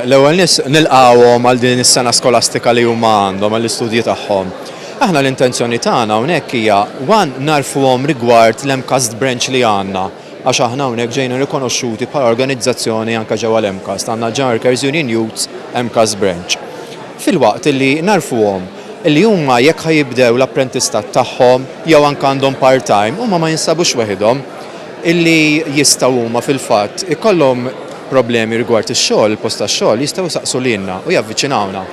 L-ewwel nett, nilqgħuhom għal din is-sena skolastika li huma għandhom għall-istudji tagħhom. Aħna l-intenzjoni tagħna hawnhekk hija, one, ngħarrfuhom rigward l-MCAST branch li għandna, għax aħna hawnhekk ġejna rikonoxxuti bħala organizzazzjoni anke ġewwa l-MCAST, għandna l-General Workers Union Youths MCAST Branch. Filwaqt illi ngħarrfuhom illi huma jekk ħa jibdew l-apprentistat tagħhom jew anke għandhom part-time, huma ma jinsabux weħidhom. illi jistgħu huma fil-fatt ikollhom problemi rigward ix-xogħol, il-post tax-xogħol, jistgħu jsaqsu lilna u javviċinawna.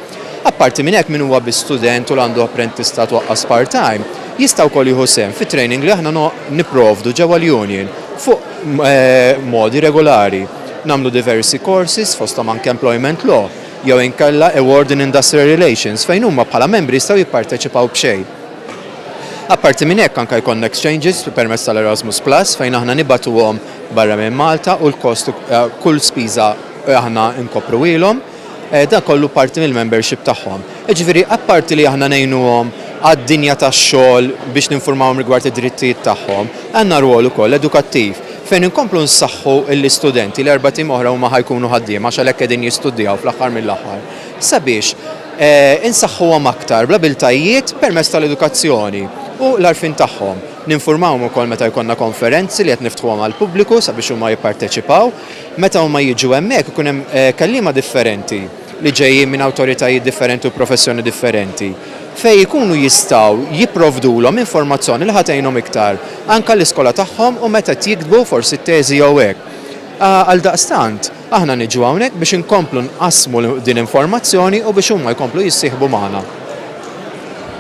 Apparti minn hekk, min huwa biss student u li għandu apprentistat u aqqas part-time, jista' wkoll jieħu sehem fit-training li aħna nipprovdu ġewwa l-union fuq modi regulari. Nagħmlu diversi courses, fosthom anke employment law, jew inkella award in industrial relations, fejn huma bħala membri jistgħu jipparteċipaw b'xejn. Apparti minn hekk anke jkollna exchanges permezz tal-Erasmus Plus fejn aħna nibgħatuhom barra minn Malta u l-kost kull spiża aħna nkopruhielhom. Dan kollu parti mill-membership tagħhom. Jiġifieri apparti li aħna ngħinuhom għad-dinja tax-xogħol biex ninfurmawhom rigward id-drittijiet tagħhom, għandna rwol ukoll edukattiv fejn inkomplu nsaħħu l-istudenti li erba' tim oħra huma ħa jkunu ħaddiema għax għalhekk qegħdin jistudjaw fl-aħħar mill-aħħar. sabiex insaħħuhom aktar bl-abiltajiet permezz tal-edukazzjoni u l-għarfien tagħhom. Ninfurmawhom ukoll meta jkollna konferenzi li qed niftħuhom għall-pubbliku sabiex huma jipparteċipaw. Meta huma jiġu hemmhekk ikun hemm kelliema differenti li ġejjin minn awtoritajiet differenti u professjoni differenti fejn ikunu jistgħu jipprovdulhom informazzjoni li ħa tgħinhom iktar anke għall-iskola tagħhom u meta qed jiktbu forsi t-teżi jew hekk. Għaldaqstant, Aħna niġu hawnhekk biex inkomplu nqassmu din informazzjoni u biex huma jkomplu jissieħbu magħna.